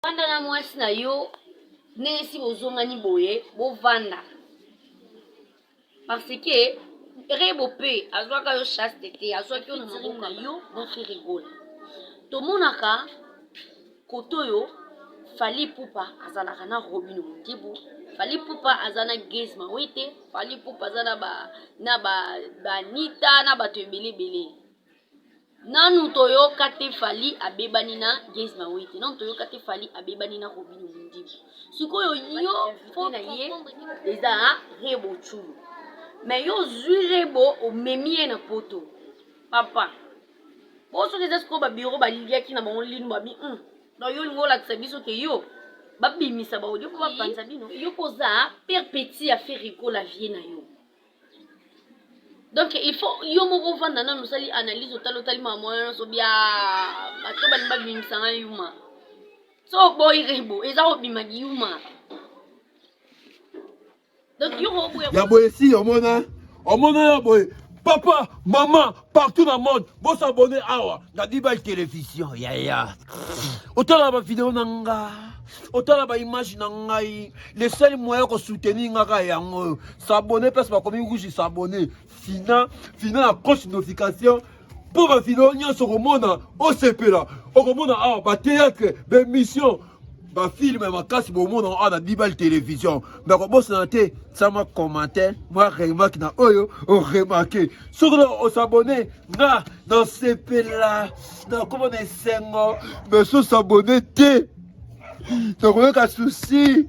Vanda na mwasi na yo ndenge si bozongani boye bovanda parce que rebo mpe azwaka yo chaste te azwaki yo na maboko na yo na ferigola tomonaka kote oyo fali pupa azalaka na robino mondibu fali pupa aza na grise mawete fali pupa aza na ba na ba banita na bato ebele ebele Nanu toyoka te Fally abebani na Gaze Mawete. Nanu toyoka te Fally abebani na Robino Mundibu. Sikoyo yo faut na ye eza ha Rebo Chulu. Mais yo zui Rebo omemi ye na poto. Papa. Po soki eza sikoyo ba bureau baliaki na bango linu babi. Hum. Donc yo lingo lakisa biso ke yo babimisa ba audio po bapanza bino. Yo poza père petit ya Ferre Gola vie na yo. donc il faut yo moko ovanda nano osali analyse otali otali mama wana nyonso bia bato balingi babimisa na yuma so oboyi rebo eza kobima yuma donc yo koboya ya boye si omona omona ya boye papa mama partout na monde bo s'abonner awa na bibal television yaya otala ba video na nga otala ba image na ngai le seul moyen ko soutenir nga ka yango oyo s'abonner place ba komi rouge s'abonner fina fina na coche notification mpo ba video nyonso okomona osepela okomona awa ba théâtre ba émission bafilme makasi bomona awa na bibale television me kobosana te tia mwa commentaire mwa remarke na oyo oremarke soki na osabone nga nasepela nakoma na esengo me so sabone te nakoyoka susi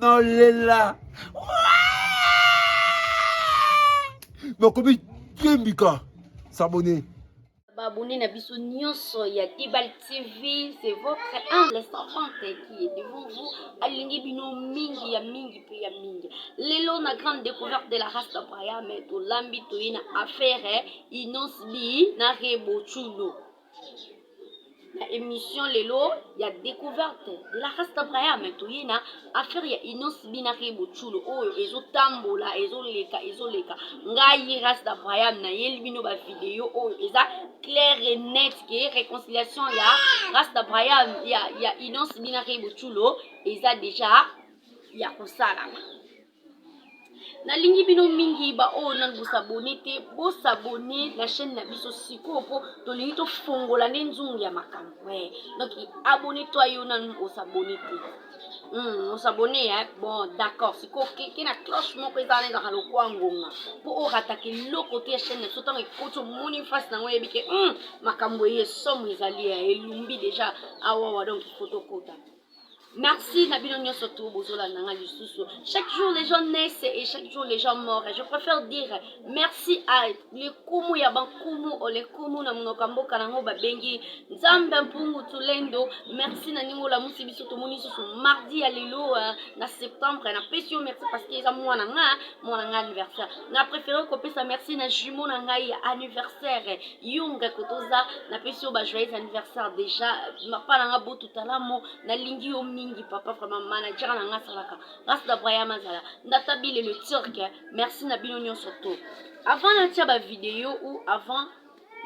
nalela nakomi tembika sabone Babone na biso nyonso ya Dibal TV, c'est votre humble servante qui est devant vous. Alingi bino mingi ya mingi pe ya mingi. Lelo na grande découverte de la race de Brian, mais tolambi toyi na affaire Innos B na Rebo Chulo. na emission lelo ya découverte de la race d'abraham toye na affaire ya inos binaki boculo oyo ezotambola ezoleka ezoleka ngai race d'abraham nayeli bino bavideo oyo eza claire et net ke réconciliation ya race d'abraham ya, ya inos binaki boculo eza deja ya kosalama nalingi bino mingi baoyo nanu bosabone te bosabone na chaîne na biso sikoyo mpo tolingi tofongola nde nzungu ya makambo e eh, donc abone to yo nanu osabone te hmm, osabone ya eh? bon d'accord sikoyo keke na cloche moko eza wana ezalaka lokwa ngonga mpo orataka eloko te ya chaîne na biso ntango ekoti omoni face nango oyebi ke hmm, makambo eye somo ezali ya eh, elumbi deja awawa donc ifo tokota Merci Nabino Nyoso tout Bozola Nanga Lisusu. Chaque jour les gens naissent et chaque jour les gens morts. Je préfère dire merci à les Kumu ya Bankumu ou les Kumu na Munoka Mboka na Ngoba Bengi. Nzambe Mpungu Tulendo. Merci na Ningo la Musi Biso Tomoni Susu mardi ya lelo euh, na septembre na pesio merci parce que eza mwana nga mwana nga anniversaire. Na préféré ko pesa merci na jumeau na ngai ya anniversaire. Yunga kotoza na pesio ba joyeux anniversaire déjà. Papa na nga talamo nalingi yo mingi papa vraiment manager na nga asalaka ngas na brayam azala ndata bile le turc merci na bino nyonso to avant natia bavideo ou avant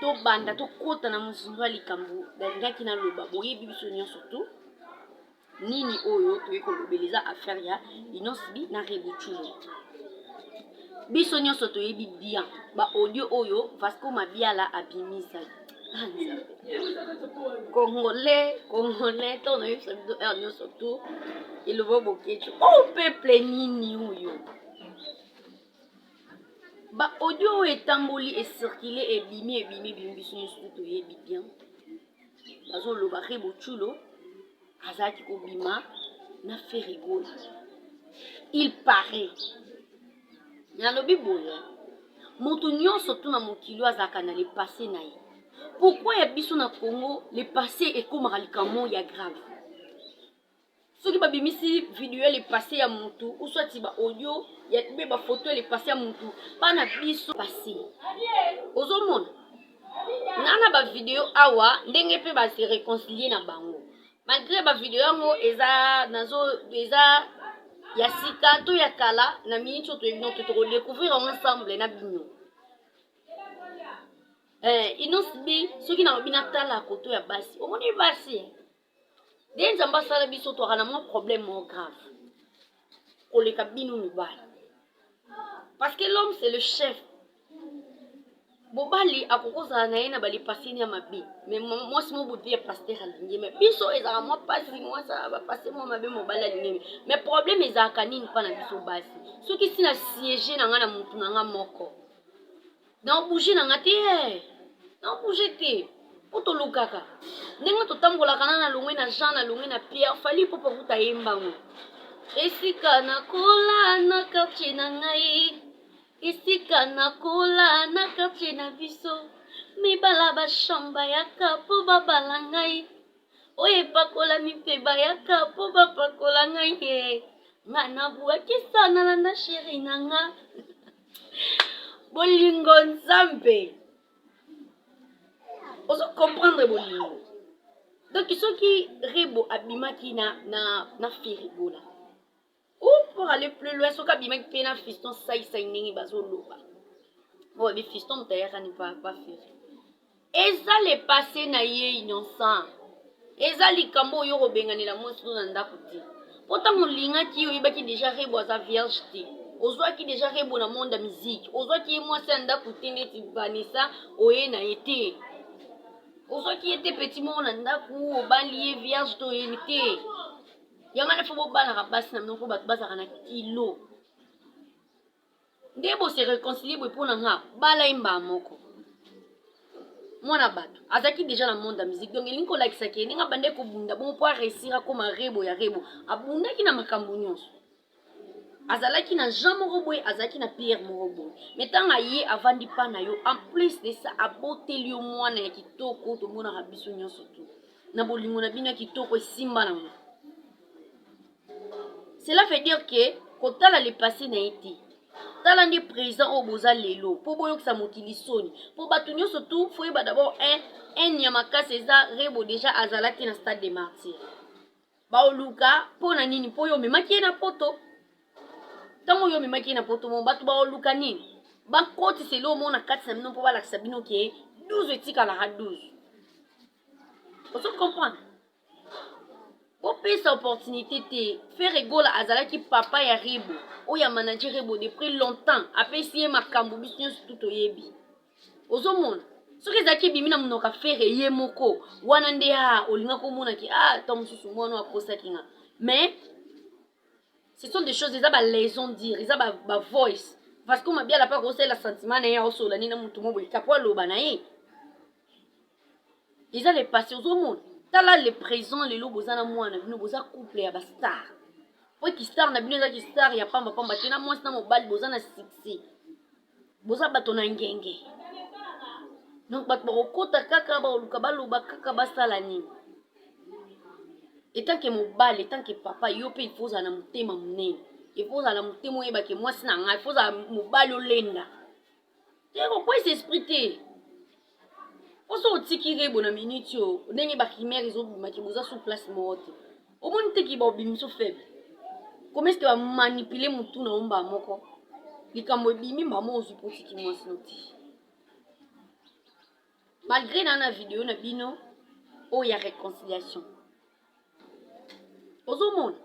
tobanda tokɔta na mozindo ya likambo nalingaki naloba boyebi biso nyonso to nini oyo toyei kolobela eza affaire ya inosbi na rebutulo biso nyonso toyebi bien baaudio oyo vasco mabiala abimisaki congolais congolais to nayebisa bino heure nyonso tu elobo bokeci o oh, peuple nini oyo ba audio oyo etamboli ecircule ebimi ebimi ebimi biso nyonso tu toyebi bien bazolobaka boculo azalaki kobima na ferre gola il parait nalobi boye moto nyonso tuna mokili azalaka na lepasse na ye pourkui ya biso na congo lepasse ekomaka likambo ya grave soki babimisi video ya lepasse ya motu uswati ba audio ya be bafoto ya lepasse ya motu bana biso passe ozomona nga na ba video awa ndenge pe ba se reconcilier na bango malgré ba video yango eza nazo eza ya sika to ya kala na minute oyo toyebi noto toko découvrir yango ensemble na bino eh, inosbi soki nalobi natala koto ya basi omoni basi nde nzambe asala biso twaka na mwa problème moko grave koleka bino mibali parce que l'homme c'est le chef mobali akoki kozala na ye na balipasini ya mabe me mwasi mo bobi ya paster alingi me biso ezalaka mwa mpasi mwasi bapase mwa mabe mobali alingi me me problème ezalaka nini mpa na biso basi soki si na siege na ngai na motu na ngai moko nao bouge na nga te eh. nao bouge te po tolukaka ndenge totambolaka na nalongwe na jean nalongwe na pierre fali popo kuta ye mbango esika nakola na quartier na ngai esika nakola na quartier na biso mibala bashamba yaka po babala ngai oyo epakolami mpe bayaka po bapakola ngai ye nga nabuakisa nalanda sheri na nga bolingo nzambe ozo comprendre bolingo donc soki rebo abimaki na, na, na firigola ou pour aller plus loin soki abimaki mpe na fiston saisai ndenge bazoloba oyo bifiston moto ayaka ni pa, pa firi eza le passe na ye innocent eza likambo oyo okobenganela mwasi no na ndako te mpo ntango olingaki ye oyebaki deja rebo aza vierge te ozwaki deja rebo na monde ya miziki ozwaki ye mwasi ya ndako te ndeti vanessa oye na ye te ozwaki ye te peti moko na ndako obali ye vierge to oye te yango nafo bobalaka basi na minoko bato bazalaka na kilo nde bo se reconcilier boye mpo na nga bala ye mbaa moko mwana bato azalaki deja na monde ya musique donc elingi kolakisa ke ndenge abandaki kobunda bongo mpo aresir akoma rebo ya rebo abundaki na makambo nyonso azalaki na jean moko boye azalaki na pierre moko boye me ntango aye avandi mpa na yo en plus de ça aboteli yo mwana ya kitoko tomonaka biso nyonso tu na bolingo na bino ya kitoko esimba nango cela veut dire que kotala le passé na ye te tala nde présent oyo boza lelo mpo boyokisa mokili soni mpo bato nyonso tu foyeba dabord un un ya makasi eza rebo deja azalaki na stade de martyr baoluka mpo na nini mpo yo omemaki ye na poto ntango yo omemaki ye na poto mo bato baoluka nini bakotisa elo omona kati na bino mpo balakisa bino ke 12 etikalaka 12 ozo comprendre bopesa opportunité te ferre gola azalaki papa ya rebo oyo ya manager rebo de près longtemps apesi ye makambo biso nyonso tu toyebi ozomona soki ezalaki ebimi na monoka ferre ye moko wana nde a ah, olingaki omonaki a ah, ntango mosusu mwana oyo akosaki nga mais ce sont des choses eza balaison dire eza bavoice ba parce que mabiala mpe akosalela sentiment na ye aosola nini na motu mo boye kapo aloba na ye eza le passé ozomona tala le présent lelo boza na mwana bino boza couple ya bastar po kistar na bino eza kistar ya pamba pamba te na mwasi na mobali boza na succès boza bato na ngenge donc bato bakokota kaka bakoluka baloba kaka basala nini etanke mobali etanke papa yo mpe ifo ozala na motema monene ifo ozala na motema oyebake mwasi na ngai ifo ozala mobali olenda Pierre okwesi esprit te oso otiki rebo na minute oyo ndenge bakimere ezobimaki boza sous place moko te omoni te kiba obimi so faible komesite bamanipule motu na omba moko likambo ebimi mbamo ozwi mpo otiki mwasi no te malgré na na video na bino oyo ya réconciliation ozomona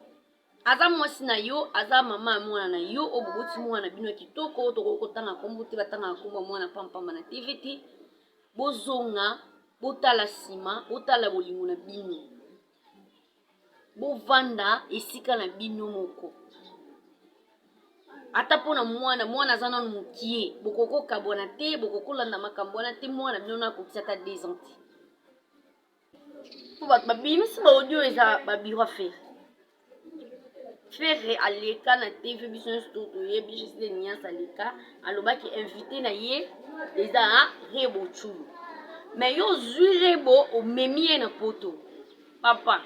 aza mwasi na yo aza mama ya mwana na yo oyo boboti mwana na bino ya kitoko tokoki kotanga nkombo te batangaka nkombo ya mwana pampamba na tv te bozonga botala nsima botala bolingo na bino bovanda esika na bino moko ata mpo na mwana mwana aza nano mokie bokokokabwana te bokokolanda makambo wana te mwana bino nakokisa ata 2 ans te po bato babimisi ba audio eza ba bureau ya ferre ferre aleka na tv biso nyonso to toyebi gisle nias aleka alobaki invité na ye eza a rebo chulu me yo ozwi rebo omemi ye na poto papa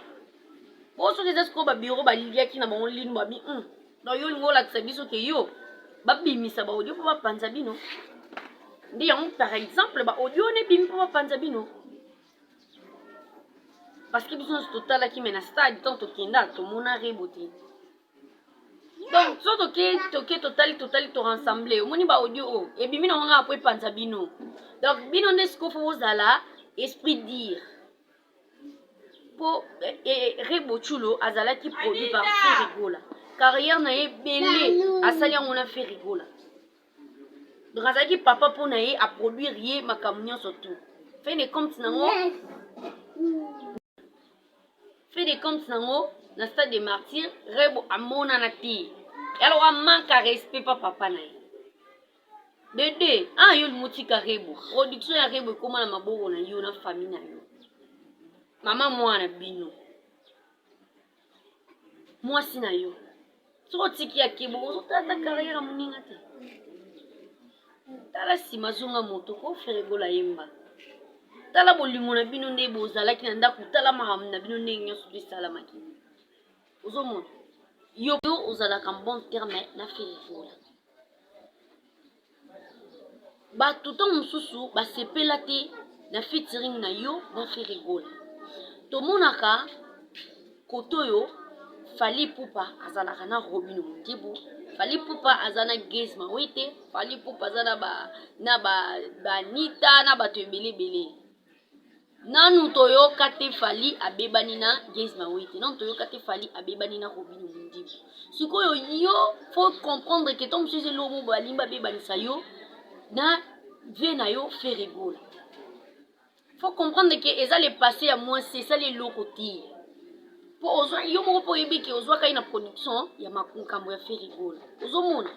po soki eza sikoyo babiro baliaki na bango lino babi mm. donc yo olingi olakisa biso ke yo babimisa baaudio mpo bapanza bino nde yango par exemple baaudio wana ebimi mpo bapanza bino parce que biso nyonso totalaki me na stade ntango tokenda tomona rebo te donc so toke toke totali totali torensemble omoni ba audio oyo oh, ebimi na wanga po epanza bino donc bino nde sikoyo fo bozala esprit dire po eh, eh, rebo chulo azalaki produit par ferigola carrière na ye ebele asali yango na ferigola donc azalaki papa mpo na ye aproduire ye makambo nyonso tout fin de compte nango fin de compte nango na stade de martyr rebo amonana te alors amanka respect pa papa na ye dede ah yo limotika rebo production ya rebo ekóma na maboko na yo na famille na yo mama mwana bino mwasi na yo soki otiki ya kebo ozotata carrière ya moninga te tala nsima zonga moto ko feregola yemba tala bolingo na bino nde bozalaki na ndako tala makambo na bino ndenge nyonso to esalamaki ozomona yo ozalaka bon terme na feregola Batu ntango mosusu basepela te na featuring na yo na Ferre Gola. Tomonaka kote oyo Fally Ipupa azalaka na Robino Mundibu, Fally Ipupa aza na Gaz Mawete, Fally Ipupa aza na ba na ba Anita na bato ebele ebele. Nanu toyoka te Fally abebani na Gaze Mawete, nanu toyoka te Fally abebani na Robinho Mundibu. Sikoyo yo faut comprendre que tant mosusu eloko moko balingi babebanisa yo na vie na yo Ferre Gola. Faut comprendre que eza le passé ya mwasi esali eloko te. po ozwa yo moko mpo oyebi ke ozwaka ye na production ya makambo ya ferigol ozomona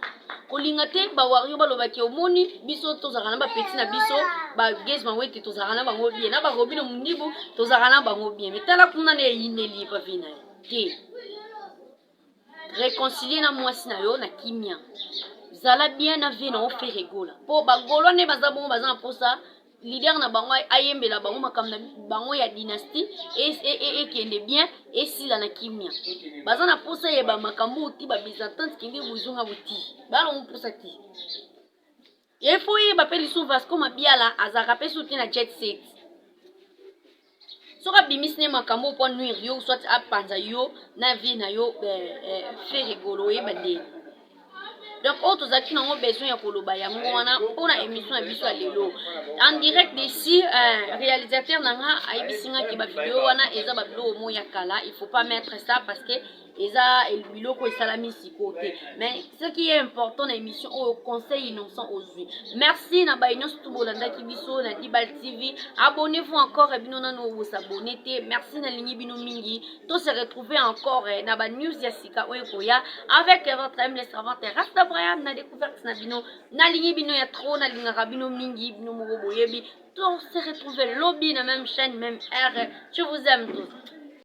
kolinga te bawario baloba ke omoni biso tozalaka na bapeti na biso bagage bango ete tozalaka na bango bien na barobino mondibu tozalaka na bango bien me tala kuna na eyineli epavi na ye te reconcilie na mwasi na yo na kimia zala bien na vie na yo fere gola mpo bagolo nde baza bongo baza na mposa leader na bango ayembela bango makambo na bango ya dynastie ekende e, e, e bien esila na kimia baza na mposa ya bamakambo oti babyzantine kende bozonga boti balongo mposa te Il faut oyeba pe lisusu Vasco Mabiala azalaka pe suki na jet set. Soki abimisi ne makambo mpo anuire yo soit apanza yo na vie na yo eh, eh, fe rigolo oyeba nde. Donc oyo tozalaki nango besoin ya koloba yango wana mpo na émission ya biso ya lelo. En direct d'ici eh, réalisateur na nga ayebisi nga ke ba video wana eza ba biloko mo ya kala, il faut pas mettre ça parce que eza biloko esalami sikoyo te mais ce qui est important na émission oyo conseil innocent ozwi merci na baye nyonso tu bolandaki biso na dibal tv abonnez vous encore e bino nano bosabone te merci nalingi bino mingi to se retrouver encore na ba news ya sika oyo ekoya avec votre aime les servante rasta brayam na découverte na bino nalingi bino ya trop nalingaka bino mingi bino moko boyebi to se retrouver lobi na même chaîne même heure je vous aime tous